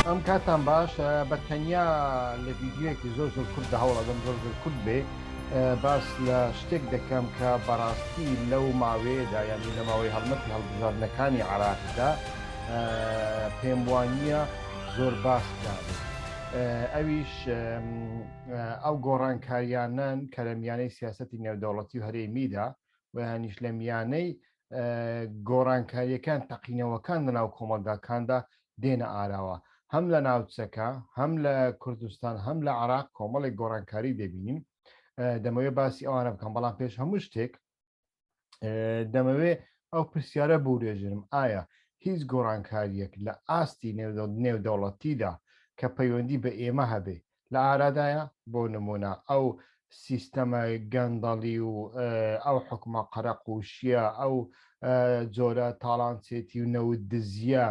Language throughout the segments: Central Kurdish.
ئەم کاتان باش بە تەنیا لە ویددیوەکی زۆر زۆر کورد دە هەوڵەدەم زۆر زۆر کورد بێ باس لە شتێک دەکەم کە بەڕاستی لەو ماوەیەدا یانی لە ماوەی هەڵمەتی هەڵبژاردنەکانی عراقدا پێم وانە زۆر باس کرابێت ئەویش ئەو گۆڕانکاریانەن کە لە میانەی سیاستی نێودەوڵەتی و هەرێمیدا ویانیش لە میانەی گۆڕانکاریەکان تەقینەوەکان لە ناو کۆمەلگاکاندا دێنە ئاراوە هەم لە ناوچەکە هەم لە کوردستان هەم لە عراق کۆمەڵی گۆڕانکاری دەبینین دەمەوێت باسی ئەوانە بکەم بەڵام پێش هەموو شتێک دەمەوێ ئەو پرسیارە بورێژرم ئایا هیچ گۆڕانکاریەک لە ئاستی نێودەوڵەتیدا کە پەیوەندی بە ئێمە هەبێ لە ئارادایە بۆ نمونە ئەو سیستەمە گەندەڵی و ئەو حکومە قەرەقوشیە ئەو جۆرە تاڵانچێتی و نەوت دزیە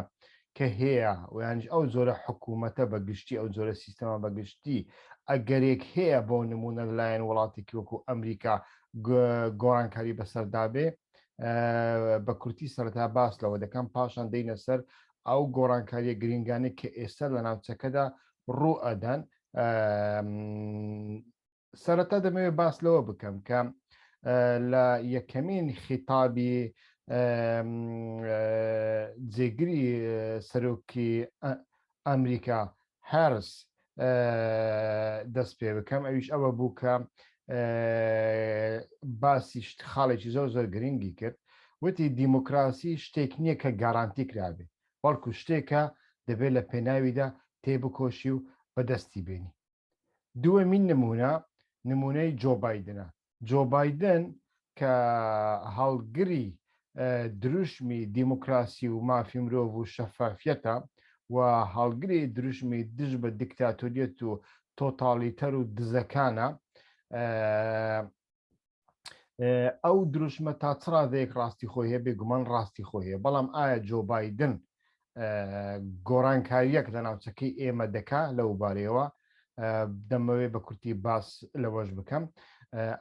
کە هەیە و یانیش ئەو جۆرە حکوومەتە بە گشتی، ئەو جۆرە سیستەمە بە گشتی، ئەگەرێک هەیە بۆ نموونە لە لایەن وڵاتێکی وەکوو ئەمریکا گۆڕانکاری بە سەردا بێ. بە کورتی سەرەتا باس لەوە دەکەم، پاشان دێینە سەر ئەو گۆڕانکارییە گرینگانەی کە ئێستا لە ناوچەکەدا ڕوو ئەدەن. سەرەتا دەمەوێت باس لەوە بکەم کە لە یەکەمین خیتابی جێگری سەرۆکی ئەمریکا هەرس دەست پێ بکەم ئەویش ئەوە بوو کە باسی خاڵێکی زۆر زۆر گرنگی کرد وتی دیموکراسی شتێک نییە کە گارانتی کرابێ بەڵکو شتێکە دەبێت لە پێناویدا تێبکۆشی و بەدەستی بینی دووەمین نمونە نمونەی جۆ بایدنە جۆ بایدن کە هەڵگری دروشمی دیموکراسی و مافی مرۆڤ و شەفافیەتە و هەڵگری دروشمی دژ بە دیکتاتۆریەت و تۆتالیتەر و دزەکانە ئەو دروشمە تا چڕادەیەک ڕاستی خۆی هەیە بێگومان ڕاستی خۆی هەیە بەڵام ئایا جۆ بادن گۆرانکاریەک لە ناوچەکەی ئێمە دەکا لەو بارەیەوە دەمەوێ بە کورتی باس لەوەش بکەم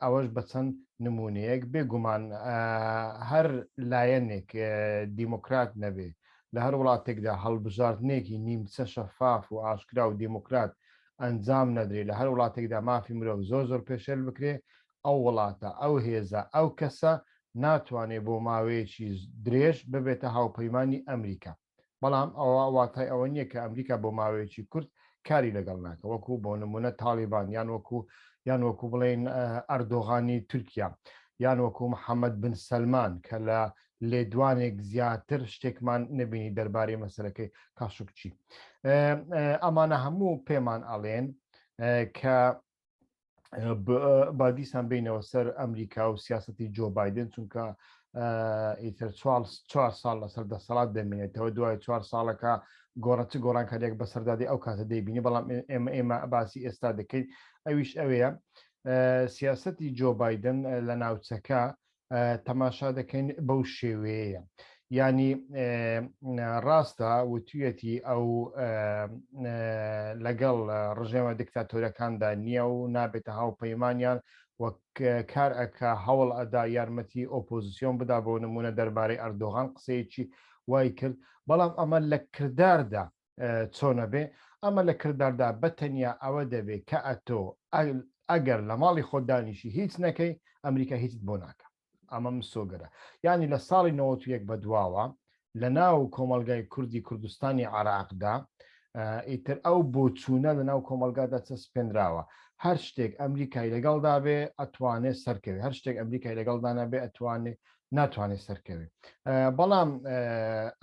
ئەوەش بە چەند نمونەیەک بێگومان هەر لایەنێک دیموکرات نەبێ لە هەر وڵاتێکدا هەڵبژاردنێکی نیمچە شەفاف و ئاشکرا و دیموکرات ئەنجام نەدرێ لە هەر وڵاتێکدا مافی مرۆڤ زۆر زۆر پێشێل بکرێ ئەو وڵاتە ئەو هێزە ئەو کەسە ناتوانێ بۆ ماوەیەکی درێژ ببێتە هاوپەیمانی ئەمریکا بەڵام ئەوە واتای ئەوە نییە کە ئەمریکا بۆ ماوەیەکی کورت کاری لەگەڵ ناکە وەکو بۆ نمونە تاڵیبان یان وەکو یان وەکو بڵێن ئەردۆغانی تورکیا یان وەکو محەممەد بن سەلمان کە لە لێدوانێک زیاتر شتێکمان نەبینی دەربارەی مەسەرەکەی کاشکچی ئەمانە هەموو پێمان ئەڵێن کە بادیسان بینەوە سەر ئەمریکا و سیاستی جۆ بادن چونکە ئیتر چوار ساڵ لەسەر دەسەڵات دەمێنێتەوە دوای چوار ساڵەکە گۆڕەتی گۆڕانکاریێک بەسەردادی ئەو کاتە دەیبینی بەڵام ئێمە ئێمە باسی ئێستا دەکەین ئەویش ئەوەیە سیاستی جۆ بادن لە ناوچەکە تەماشا دەکەین بەو شێوەیە ینی ڕاستە وتویەتی ئەو لەگەڵ ڕژێمە دکتاتۆرەکاندا نییە و نابێتە هاوپەیمانیان وەک کار ئەکا هەوڵ ئەدا یارمەتی ئۆپۆزیسیۆن بدا بۆ نمونە دەربارەی ئەردۆغان قسەیەکی وای کرد بەڵام ئەمە لە کرداردا چۆنە بێ ئەمە لە کرداردا بە تەنیا ئەوە دەبێ کە ئەتۆ ئەگەر لە ماڵی خۆت دانیشی هیچ نەکەی ئەمریکا هیچت بۆ ناکە ئەمە مسۆگەرە یعنی لە ساڵی 91 بە دواوە لە ناو کۆمەلگای کوردی کوردستانی عراقدا ئیتر ئەو بۆچوونە لە ناو کۆمەلگادا چەسپێنراوە هەر شتێک ئەمریکای لەگەڵدا بێ ئەتوانێت سەرکەوێ هەر شتێک ئەمریکای لەگەڵدانە بێ ئەتوانێت ناتوانێت سەرکەوێت بەڵام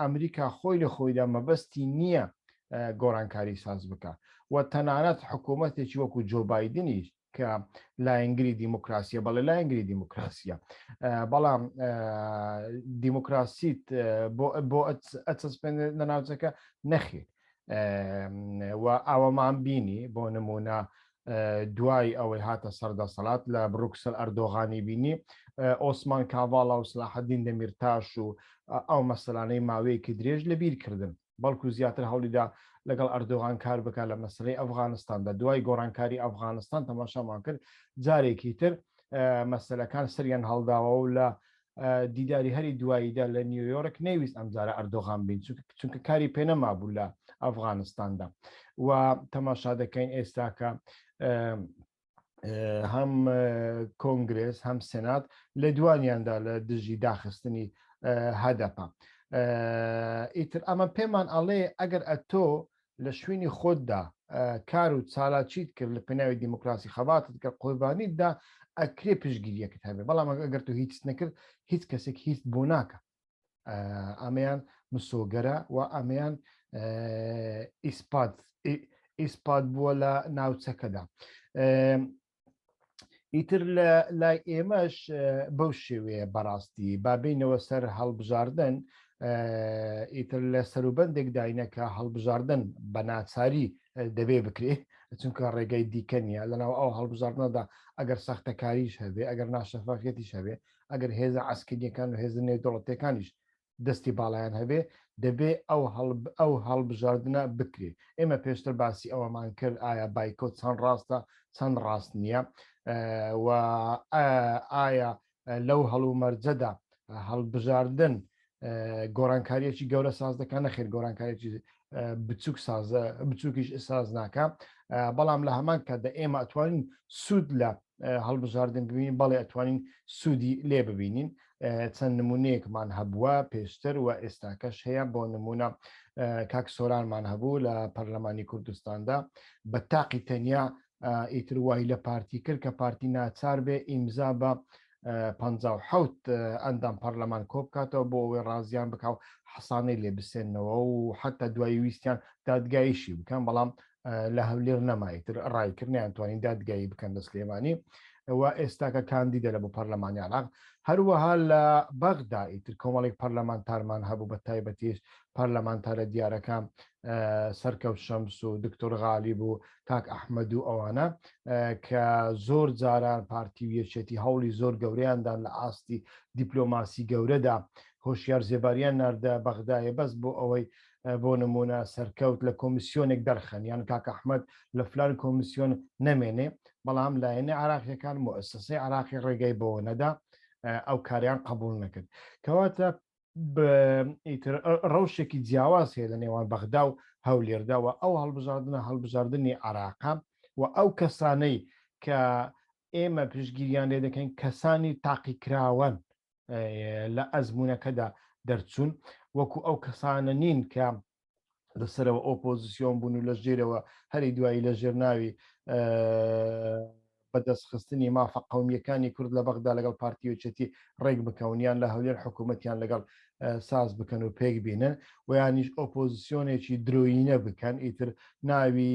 ئەمریکا خۆی لە خۆیدا مەبەستی نییە گۆرانکاری ساز بکە و تەنانەت حکوومەتێکی وەکو جۆبایدنیش کە لایەنگری دیموکراسیە بەڵێ لایەنگری دیموکراسیە بەڵام دیموکراسیت بۆ ئەچەسپێن لە ناوچەکە نەخێت و ئەوەمان بینی بۆ نمونە دوای ئەوەی هاتە سەردەسەڵات لە بروکسل ئەردۆغانی بینی ئۆسمان کاڤاڵا و سلاحدین دەمیرتاش و ئەو مەسلانەی ماوەیەکی درێژ لە بیر کردن بەڵکو زیاتر هەوڵیدا لەگەڵ ئەردۆغان کار بک لە مەسلەی ئەفغانستاندا دوای گۆڕانکاری ئەفغانستان تەماشامان کرد جارێکی تر مەسلەکان سەریان هەڵداوە و لە دیداری هەری دواییدا لە نیویۆرک نەیویست ئەمجارە ئەردۆغان بین چونکە کاری پێنەمابوو لە ئەفغانستاندا و تەماشا دەکەین ئێستاکە هەم کۆنگرس هەم سنات لە دوانیاندا لە دژی داخستنی هەدەپە ئیتر ئەمە پێمان ئەڵێ ئەگەر ئەتۆ لە شوینی خۆت دا کار و چالاکیت کرد لە پێناوی دیموکراسی خەباتت کرد قوربانیت دا ئەکرێ پشتگیریەکت هەبێ بەڵام ئەگەر تۆ هیچت نەکرد هیچ کەسێک هیچت بۆ ناکە ئەمەیان مسۆگەرە و ئەمەیان ئیسپات ئیسپات بووە لە ناوچەکەدا ئیتر لە لای ئێمەش بەو شێوەیە بەڕاستی بابینەوە سەر هەڵبژاردن ئیتر لە سەروبندێک داینەکە هەڵبژاردن بە ناچاری دەبێ بکرێت چونکە ڕێگەی دیکە نیە لەناو ئەو هەڵبژاردنەدا ئەگەر سەختەکاریش هەبێ ئەگەر ناشەفافەتیش هەبێ ئەگەر هێزە ئاسکردیەکان و هێزنێ دەوڵەتەکانیش دەستی باڵایان هەبێ دەبێ ئەو ئەو هەڵبژاردنە بکرێ ئێمە پێشتر باسی ئەوەمان کرد ئایا بایکۆت چەند ڕاستە چەند ڕاست نییە و ئایا لەو هەڵومەرجەدا هەڵبژاردن گۆرانکاریەکی گەورە ساز دەکەن نەخێر گۆرانکاریی بچووک سازە بچووکیش ساز ناکە بەڵام لە هەمان کاتدا ئێمە ئەتوانین سوود لە هەڵبژاردن ببین بەڵێ ئەتوانین سوودی لێ ببینین چەند نمونەیەکمان هەبووە پێشتر و ئێستاکەش هەیە بۆ نمونە کاک سۆرانمان هەبوو لە پەرلەمانی کوردستاندا بە تاقی تەنیا ئیتر وای لە پارتی کرد کە پارتی ناچار بێ ئیمزا بە 1970 ئەندام پەرلەمان کۆ بکاتەوە بۆ ئەوەی ڕازیان بکاو حەسانەی لێ بسێنەوە و حتا دوای ویستیان دادگایشی بکەن بەڵام لە هەولێر نەمایتر ڕایکردنیان توانین دادگایی بکەن لە سلێمانی ئەوە ئێستاکە کاندیدە لە بۆ پەرلەمانی عراق هەروەها لە بەغدا ئیتر کۆمەڵێک پەرلەمانتارمان هەبوو بە تایبەتیش پەرلەمانتارە دیارەکان سەرکەوت شەمس و دکتۆر غالی بوو کاک ئەحمد و ئەوانە کە زۆر جاران پارتی و یەکێتی هەوڵی زۆر گەوریاندان لە ئاستی دیپلۆماسی گەورەدا هۆشیار زێباریان ناردە بەغدایە بەس بۆ ئەوەی بۆ نموونە سەرکەوت لە کۆمیسیۆنێک دەرخەن یان کاک ئەحمەد لە فلان کۆمیسیۆن نەمێنێ بەڵام لایەنە عراقیەکان موسسەی عراقی ڕێگەی بۆ نەدا ئەو کاریان قبول نەکرد کەواتە ڕەوشێکی جیاواز هەیە لە نێوان بەغدا و هەولێرداوە ئەو هەڵبژاردنە هەڵبژاردننی عراقا و ئەو کەسانەی کە ئێمە پشگیریان لێ دەکەین کەسانی تاقیکراوەن لە ئەزمونەکەدا دەرچوون وەکو ئەو کەسانە نین کە لەسەرەوە ئۆپۆزیسیۆن بوون و لە ژێرەوە هەری دوایی لە ژێر ناوی بەدەستخستنی مافە قومیەکانی کورد لە بەغدا لەگەڵ پارتیوچەتی ڕێک بکەونیان لە هەولێر حکوومەتیان لەگەڵ ساز بکەن و پێک بینن و یانیش ئۆپۆزیسیۆنێکی درۆینە بکەن ئیتر ناوی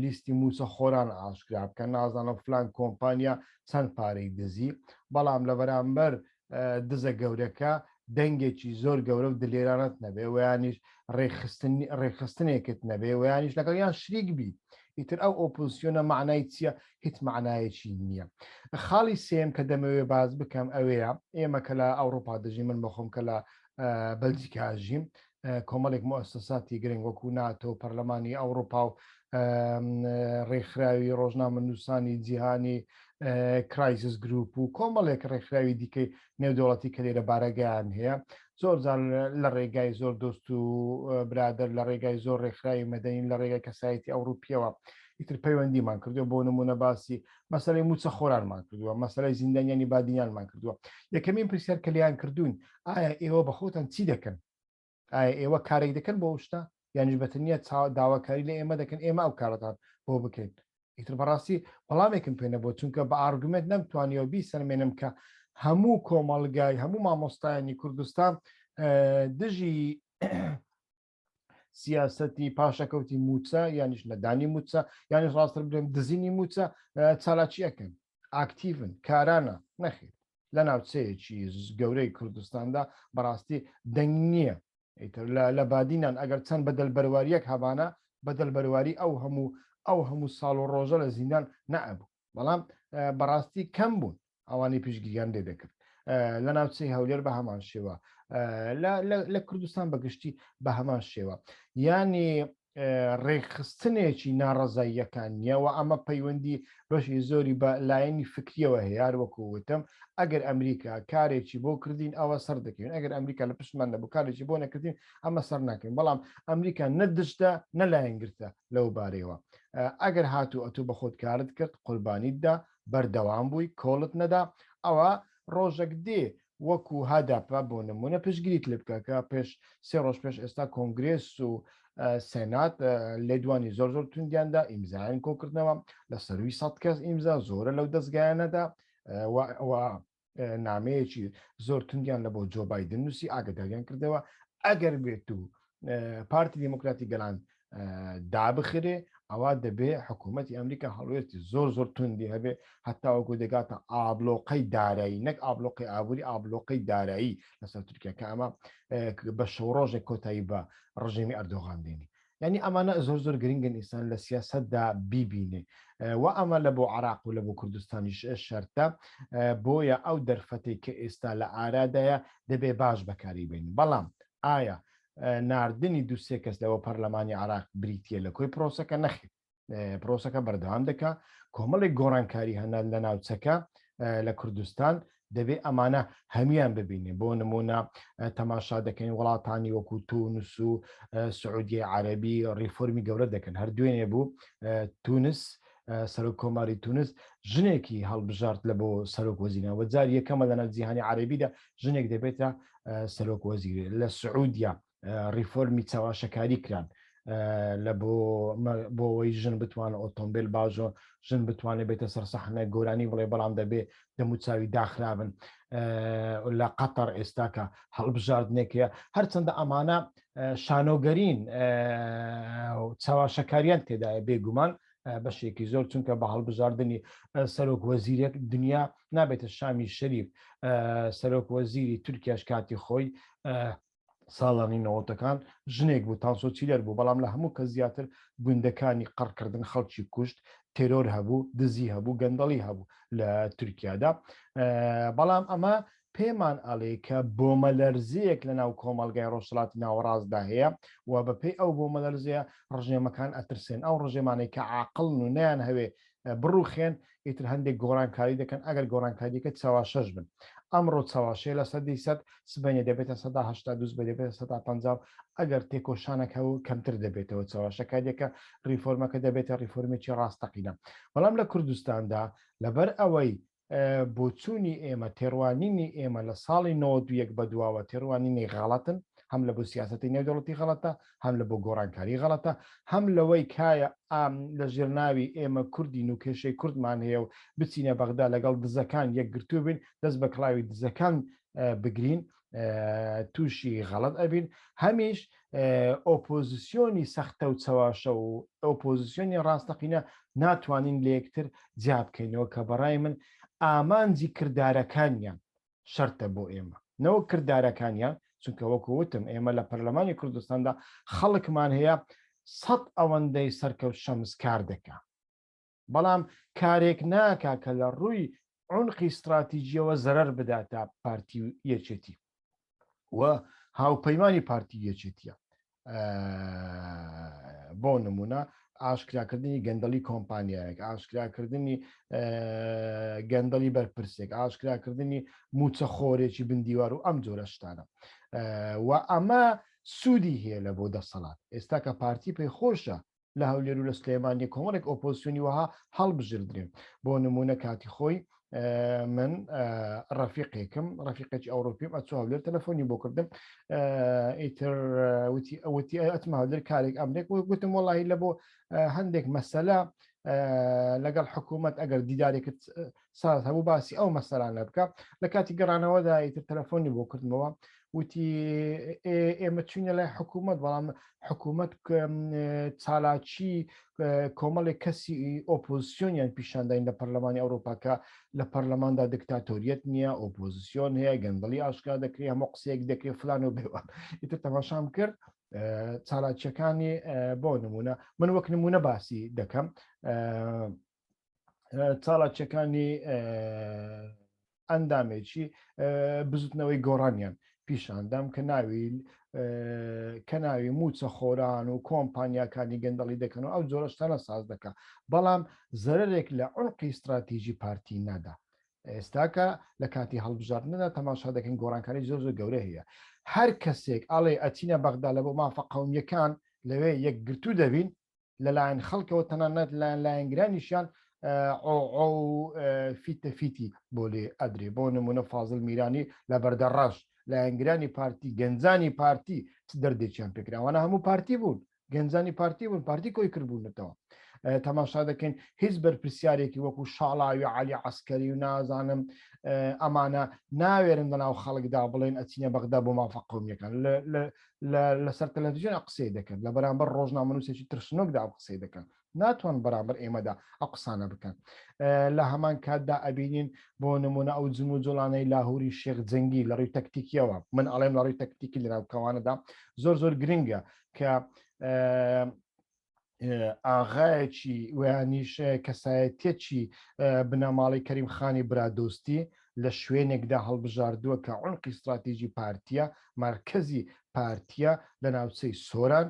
لیستی موسە خۆران ئاشکرا بکەن نازانم فلان کۆمپانیا چەند پارەی دزی، بەڵام لە بەرامبەر دزە گەورەکە دەنگێکی زۆر گەورە و دلێرانەت نەبێ و یانیش ڕێکخستن ڕێکخستنێکت نەبێ و یانیش لەگەڵ یان شریک بی ئیتر ئەو ئۆپۆزسیۆنە مەعنای چییە هیچ مەعنایەکی نییە خاڵی سێم کە دەمەوێ باز بکەم ئەوەیە ئێمە کە لە ئەوڕۆپا دەژی من بەخۆم کە لە بەلجیکاژیم کۆمەڵێک مۆسەساتی گرنگ وەکو ناتۆ و پەرلەمانی ئەوروپا و ڕێکخراوی ڕۆژنامە نووسانی جیهانی کرایسیس گروپ و کۆمەڵێک ڕێکخراوی دیکەی نێودوڵەتی کە لێرە بارەگەیان هەیە زۆر جار لە ڕێگای زۆر دۆست و برادر لە ڕێگای زۆر ڕێکخراوی مەدەین لە ڕێگای کەسایەتی ئەوروپیەوە ئیتر پەیوەندیمان کردو بۆ نمونە باسی مەسلەی موچە خۆرانمان کردووە مەسلەی زیندانیانی بادینانمان کردووە یەکەمین پرسیار کە لیان کردوون ئایا ئێوە بە خۆتان چی دەکەن؟ ئایا ئێوە کارێک دەکەن بۆ ئەو شتە؟ یانیش بە تەنیا چا داواکاری لە ئێمە دەکەن ئێمە ئەو کارەتان بۆ بکەین؟ ئیتر بەڕاستی وەڵامێکم پێ نەبووە، چونکە بە ئارگومێنت نەمتوانیوە بیسەلمێنم کە هەموو کۆمەڵگای هەموو مامۆستایانی کوردستان دژی سیاستی پاشەکەوتی موچە یانیش نەدانی موچە یانی ڕاستتر بێن دزینی موچە چالاکیەکەن ئاکتیڤن کارانە نەخیر لە ناوچەیەکی گەورەی کوردستاندا بەڕاستی دەنگ نییە ئیتر لە بادینان ئەگەر چەند بەدەل بەرواریەک هەبانە بەدەل بەرواری ئەو هەموو ئەو هەموو ساڵ و ڕۆژە لە زیندان نەبوو بەڵام بەڕاستی کەم بوون ئەوانی پشگیریان لێ دەکرد لە ناوچەی هەولێر بە هەمان شێوە لە کوردستان بەگشتی بە هەمان شێوە ینی ڕێکخستنێکی ناڕزاییەکان نییەوە ئەمە پەیوەندی بەشی زۆری بە لایەنی فکریەوە هەیەار وەکووتم ئەگەر ئەمریکا کارێکی بۆ کردین ئەوە سەر دەکەین ئەگەر ئەمریکا لە پشتمان نەبوو کارێکی بۆ نەکردین ئەمە سەر ناکەین بەڵام ئەمریکا نەدشدا نەلایەنگرتە لەو بارەیەوە ئەگەر هاتوو ئەتوو بە خۆت کارت کرد قوربانیت دا بەردەوام بووی کۆڵت نەدا ئەوە ڕۆژەک دێ وەکو هەدەپە بۆ نمونە پشگیریت لێ بکە کە پێش سێ ڕۆژ پێش ئێستا کۆنگرێس و سێنات لێدوانی زۆر زۆر توندیاندا ئیمزایان کۆکردنەوە لە سەروی سەد کەس ئیمزا زۆرە لەو دەستگایانەدا نامەیەکی زۆر توندیان لە بۆ جۆ بادن نووسی ئاگداریان کردەوە ئەگەر بێت و پارتی دیموکراتی گەلان دابخرێ ئەوە دەبێ حکوومەتتی ئەمریکا هەڵوێستی زۆر زۆر توندی هەبێ هەتاوەکو دەگاتە ئابلۆقەی دارایی نەک ئابلۆقی ئابووری ئابلۆقەی دارایی لەسەر تورکیا کە ئەمە بە شەوڕۆژێک کۆتایی بە ڕژێمی ئەردۆغان دێنی یانی ئەمانە زۆر زۆر گرنگن ئینسان لە سیاسەتدا بیبینێ و ئەمە لە بۆ عراق و لە بۆ کوردستانیش شەرتە بۆیە ئەو دەرفەتی کە ئێستا لە ئارادایە دەبێ باش بەکاری بین بەڵام ئایا ناردنی دوسێ کەس لەوە پەرلەمانی عراق بریتە لە کۆی پرۆسەکە نەخێت پرۆسەکە بەردەوام دەکا کۆمەڵێک گۆڕانکاری هەنا لە ناوچەکە لە کوردستان دەبێ ئەمانە هەمویان ببینێ بۆ نمونە تەماشا دەکەین وڵاتانی وەکو تونس و سعودیە عەربی ڕیفۆرمی گەورە دەکەن هەر دوێنێ بوو تونس سەرۆک کۆماری تونس ژنێکی هەڵبژارت لە بۆ سەرۆک وەزیران وەجار یەکەمە لە ناو جیهانی عربیدا ژنێک دەبێتە سەرۆک وەزیرێ لە سعودیا ڕیفۆرمی چاواشەکاری کران لە بۆ بۆەوەی ژن بتوانە ئۆتۆمبیل بازۆ ژن بتوانێت بێتە سەر سەحنە گۆرانی بڵێ بەڵام دەبێ دەموچاوی داخرابن لە قەتەر ئێستاکە هەڵبژاردنێکە هەرچەندە ئەمانە شانۆگەرین چاواشەکاریان تێدایە بێگومان بەشێکی زۆر چونکە بە هەڵبژاردننی سەرۆک وەزیرێک دنیا نابێتە شامی شەریف سەرۆک وەزیری تورکیاش کاتی خۆی ساڵانی نەوەتەکان ژنێک بوو تانسۆ چیلەر بوو بەڵام لە هەموو کە زیاتر گوندەکانی قڕکردن خەڵکی کوشت تێرۆر هەبوو دزی هەبوو گەندەڵی هەبوو لە تورکیادا بەڵام ئەمە پێمان ئەڵێ کە بۆمەلەرزەیەک لە ناو کۆمەلگای ڕۆژهڵاتی ناوەڕاستدا هەیە و بەپێی ئەو بۆمەلەرزەیە ڕژێمەکان ئەترسێن ئەو ڕژێمانێک کە عقلن و نیان هەوێ بڕوخێن ئیتر هەندێک گۆڕانکاری دەکەن ئەگەر گۆڕانکاریەکە چاواشەش بن ئەمڕۆ چاواشەیە لە سەدی سەد سبەینێ دەبێتە سەدا هەشتا دووس بە دەبێتە سەدا پ ئەگەر تێکۆشانەکە و کەمتر دەبێتەوە چاواشەکاریەکە ریفۆرمەکە دەبێتە ریفۆرمێکی ڕاستەقینە بەڵام لە کوردستاندا لەبەر ئەوەی بۆچوونی ئێمە تێڕوانینی ئێمە لە ساڵی 91 بەدواوە تێڕوانینی غەڵەتن هەم لە بۆ سیاستی نێودەوڵەتی غەڵەتە هەم لە بۆ گۆڕانکاری غەڵەتە هەم لەوەی کایە ئام لە ژێرناوی ئێمە کوردین و کێشەی کوردمان هەیە و بچینە بەغدا لەگەڵ دزەکان یەکگرتوو بین دەست بە کڵاوی دزەکان بگرین تووشی غەڵت ئەبین هەمیش ئۆپۆزیسیۆنی سەختە و چەواشە و ئۆپۆزیسیۆنی ڕاستەقینە ناتوانین لە یەکتر جیا بکەینەوە کە بەڕای من ئامانجی کردارەکانیان شەرتە بۆ ئێمە نەوە کردارەکانیان چونکە وەکو وتم ئێمە لە پەرلەمانی کوردستاندا خەڵکمان هەیە سەد ئەوەندەی سەرکەوت شەمسکار دەکە بەڵام کارێک ناکا کە لە ڕووی عونقی ستراتیجیەوە زەرەر بداتە پارتی و یەکێتی و هاوپەیمانی پارتی یەکێتیە بۆ نمونە ئاشکراکردنی گەندەڵی کۆمپانیایەک ئاشکراکردنی گەندەڵی بەرپرسێک ئاشکراکردنی موچەخۆرێکی بندیوار و ئەم جۆرە شتانە و ئەمە سوودی هەیە لە بۆ دەسەڵات ئێستا کە پارتی پێی خۆشە لە هەولێر و لە سلێمانی کۆمەڵێک ئۆپۆسیونی وەها هەڵبژردرێن بۆ نمونە کاتی خۆی من ڕەفیقێکم ڕەفیقێکی ئەوروپیم ئەچ هەولێر تەلەفۆنی بۆ کردم ئیتر وتی ئەوتی ئەتمە هەولێر کارێک ئەمرێک گوتم وڵی لە بۆ هەندێک مەسەلا لەگەڵ حکوومەت ئەگەر دیدارێکت ساز هەبوو باسی ئەو مەسەرانە بکە لە کاتی گەڕانەوەدا ئیتر تەلەفۆنی بۆ کردمەوە وتی ئێمە چوینە لای حکوومەت بەڵام حکوومەت چالاکی کۆمەڵێک کەسی ئۆپۆزیسیۆنیان پیشانداین لە پەرلەمانی ئەوروپاکە لە پەرلەماندا دکتاتۆریت نییە ئۆپۆزیسیۆن هەیە گەندڵی ئاشکا دەکرێت هەمە قسەیەک دەکرێت فلان و بێوان ئیتر تەماشام کرد چالاکیەکانی بۆ نمونە من وەک نمونە باسی دەکەم چاڵاکیەکانی ئەندامێکی بزوتنەوەی گۆڕانیان پیشاندام کە ناوی کە ناوی موچە خۆران و کۆمپانیاکانی گەندەڵی دەکەن و ئەو جۆرەشتانە ساز دەکە بەڵام زەرێک لە ئۆنقی استراتیژی پارتی نادا ئێستاکە لە کاتی هەڵبژاردندا تەماشا دەکەن گۆڕانکاری زۆر زۆر گەورە هەیە هەر کەسێک ئاڵێ ئەچینە بەغدا لە بۆ مافە قومیەکان لەوێ یەکگرتو دەبین لەلایەن خەڵکەوە تەنانەت لایەن لایەنگرانیشیان فیتە فیتی بۆ لێ ئەدرێ بۆ نمونە فازل میرانی لە بەردە ڕەش لایەنگرانی پارتی گەنجانی پارتی چ دەردێکیان پێکراوانە هەموو پارتی بوون گەنجانی پارتی بوون پارتی کۆی کردبوونەتەوە تەماشا دەکەین هیچ بەرپرسیارێکی وەکو شاڵاوی عالی عسکەری و نازانم ئەمانە ناوێرن لە ناو خەڵکدا بڵێن ئەچینە بەغدا بۆ مافە قومیەکان لەسەر تەلەڤزیۆن ئە قسەی دەکەن لە بەرامبەر ڕۆژنامەنووسێکی ترسنۆکدا ئەو قسەی دەکەن ناتوان بەرامبەر ئێمەدا ئە قسانە بکەن لە هەمان کاتدا ئەبینین بۆ نمونە ئەو جم و جوڵانەی لاهوری شێخ جەنگی لە ڕووی تەکتیکیەوە من ئەڵێم لە ڕووی تەکتیکی لەناوکەوانەدا زۆر زۆر گرنگە کە ئاغایەکی ویانیش کەسایەتێکی بنەماڵی کەریم خانی برادۆستی لە شوێنێکدا هەڵبژاردووە کە عونقی استراتیژی پارتیە مرکزی پارتیە لە ناوچەی سۆران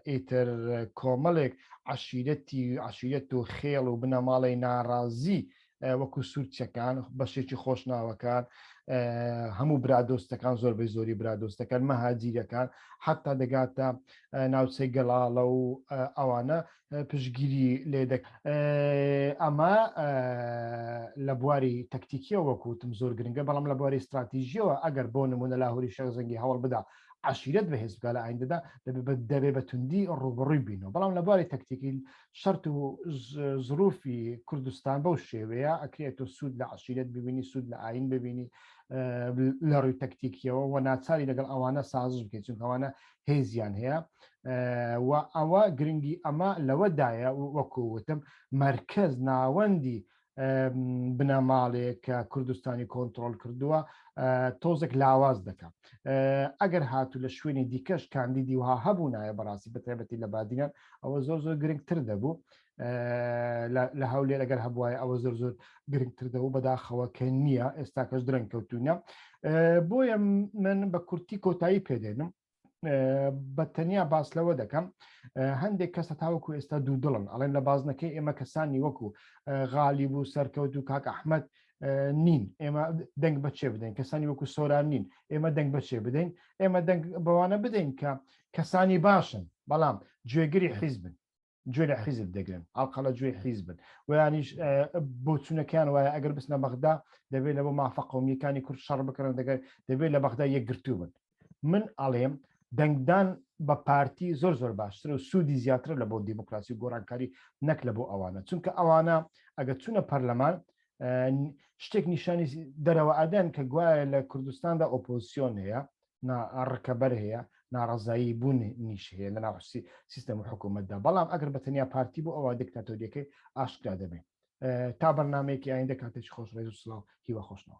ئیتر کۆمەڵێک عشیرەتی عشیرەت و خێڵ و بنەماڵی ناڕازی وەکو سوورچەکان بەشێکی خۆشناوەکان هەموو برادۆستەکان زۆربەی زۆری برادۆستەکان مەهاجیرەکان حتا دەگاتە ناوچەی گەڵاڵە و ئەوانە پشگیری لێدەک ئەمە لە بواری تەکتیکیە وەکوتم زۆر گرنگە بەڵام لە بواری استراتیژیەوە ئەگەر بۆ نمونە لاهوری شەر زەنگی هەوڵ بدا عشیرت بەهێز بکە لە ئایندەدا دەبێ بە توندی ڕوبڕووی بینەوە بەڵام لە بواری تەکتیکی شەرت و زروفی کوردستان بەو شێوەیە ئەکرێت تۆ سوود لە عشیرەت ببینی سوود لە ئاین ببینی لە ڕووی تەکتیکیەوە و ناچاری لەگەڵ ئەوانە سازش بکەیت چون ئەوانە هێزیان هەیە و ئەوە گرنگی ئەمە لەوەدایە وەکووتم مرکز ناوەندی بنەماڵێک کە کوردستانی کۆنتترۆل کردووە تۆزێک لاواز دەکەم ئەگەر هاتوو لە شوێنی دیکەش کاندیدی وها هەبوو نایە بەڕاستی بەتێبەتی لە بادینان ئەوە زۆر زۆر گرنگتر دەبوو لە هەولێر ئەگەر هەبواە ئەوە زۆر زۆر گرنگتر دەبوو بەداخەوە کە نییە ئێستاکەش درەنگ کەوتونە بۆیە من بە کورتی کۆتایی پێدێنم بە تەنیا باس لەوە دەکەم هەندێک کەسە تاوەکو ئێستا دوو دڵن ئەڵێن لە بازنەکەی ئێمە کەسانی وەکو غالی بوو سەرکەوت و کاک ئەحمد نین ئێمە دەنگ بەچێ بدەین کەسانی وەکو سۆران نین ئێمە دەنگ بەچێ بدەین ئێمە دەنگ بەوانە بدەین کە کەسانی باشن بەڵام گوێگری حیزبن گوێ لە حیزب دەگرن ئاڵقەلە گوێی حیزبن ویانیش بۆچوونەکەیان وایە ئەگەر بستنە بەغدا دەبێت لەەوە مافە قومیەکانی کورد شەڕ بکەن دەگەر دەبێت لە بەغدا یەکگرتوو بن من ئەڵێم دەنگدان بە پارتی زۆر زۆر باشتر و سوودی زیاتر لە بۆ دیموکراسی و گۆڕانکاری نەک لە بۆ ئەوانە چونکە ئەوانە ئەگە چونە پەرلەمان شتێک نیشانی دەرەوە ئەدەن کە گوایە لە کوردستاندا ئۆپۆزیسیۆن هەیە نا ڕکەبەر هەیە ناڕەزایی بوون نیش هەیە لە ناڕسی سیستەم و حکوومەتدا بەڵام ئەگەر بە تەنیا پارتی بۆ ئەوە دکتاتۆریەکەی ئاشکرا دەبێت تا بەرنمەیەکی ئایندە کاتێکی خۆش ڕێز و سلااو هیوە خۆشنەوە